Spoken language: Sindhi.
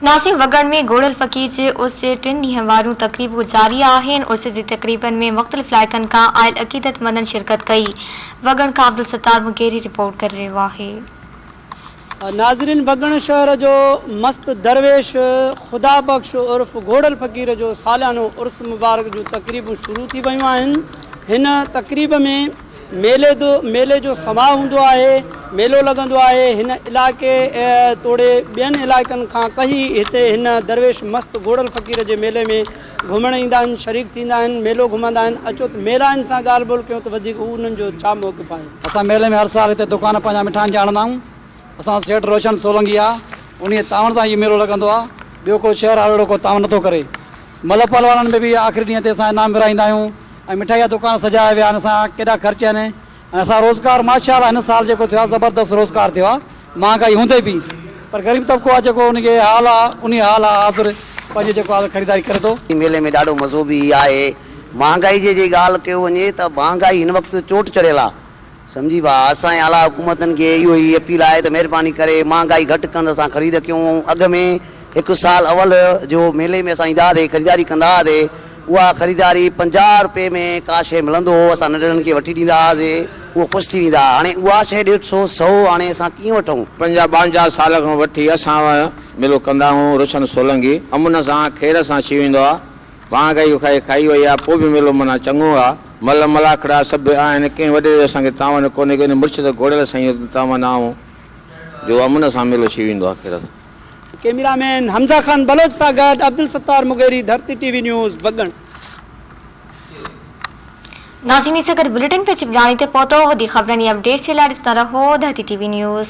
ناصر وڳڻ ۾ گهڙيل فقير جي عرس جي ٽن ڏينهن واريون تقريبون جاري آهن، عرس جي تقريبن ۾ مختلف علائقن کان آيل عقيدتمندن شرڪت ڪئي، وڳڻ کان عبدالستار مغيري رپورٽ ڪري رهيو آهي. ناظرين وڳڻ شهر جو مست درويش خدا بخش عرف گهڙيل فقير جو ساليانو عرس مبارڪ جون تقريبون شروع ٿي ويون آهن، هن تقريب ۾. ميلي دو ميلي جو سماء هوندو آهي ميلو لڳندو آهي هن علائقي توڙي ٻين علائقن کان ڪهي هتي هن درويش مست گهوڙل فقير جي ميلي ۾ گهمڻ ايندا آهن شريڪ ٿيندا آهن ميلو گهمندا آهن اچو ته ميلائن سان ڳالهه ٻولهه ڪيون ته وڌيڪ هو انهن جو ڇا موقف آهي. اسان ميلي ۾ هر سال هتي دوڪان پنهنجا مٺائن جا هڻندا آهيون. اسان سيٺ روشن سولنگي آ انهي تعاون سان هي ميلو لڳندو آ ٻيو ڪو شهر آ اهڙو ڪو تعاون نٿو ڪري ملهه پهلوانن ۾ به آخري ڏينهن تي اسان انعام ورهائيندا آهيون ۽ مٺائي جا دڪان سجايا ويا آهن اسان ڪيڏا خرچ آهن ۽ اسان روزگار ماشاء الله هن سال جيڪو ٿيو آ زبردست روزگار ٿيو آ مهانگائي هوندي به پر غريب طبقو آ جيڪو ان کي حال آ انهي حال آ حاضر پنهنجي جيڪو آ خريداري ڪري ٿو. هن ميلي ۾ ڏاڍو مزو به آهي مهانگائي جي جي ڳالهه ڪيو وڃي ته مهانگائي هن وقت چوٽ چڙهيل آ سمجهي ويا. اسان جي اعليٰ حڪومتن کي اهو ئي اپيل آهي ته مهرباني ڪري مهانگائي گهٽ ڪن ته اسان خريد ڪيون ۽ اڳ ۾ هڪ سال اول جو ميلي ۾ اسان ايندا هئاسي خريداري ڪندا هئاسي اها خريداري پنجاهه رپئي ۾ ڪا شيء ملندو هو اسان ننڍڙن کي وٺي ڏيندا هئاسي اهو خوش ٿي ويندا هئا هاڻي اها شيء ڏيڍ سو سو هاڻي اسان ڪيئن وٺون. پنجاهه ٻانجاهه سال کان وٺي اسان ميلو ڪندا هئون روشن سولنگي امن سان خير سان ڇي ويندو آهي پاڻ کائي کائي کائي وئي آ، پوء به ميلو منا چڱو آ. مل ملاکڙا سڀ آهن، ڪنهن وڏيري جو اسان کي تاون ڪونهي ڪي نه مرشد گهوڙيل سائينء جو تاون آئون جو امن سان ميلو ٿي ويندو آخرت. ڪئميرا مين حمزه خان بلوچ سان گڏ Abdul Sattar Mugheri Dharti T V news Waggan. ناظرين سان گڏ بليٽن پهچي ٻلاني تي پهتو وڌيڪ خبرن ۽ اپڊيٽس جي لاء ڏسندا رهو ڌرتي ٽي وي نيوز.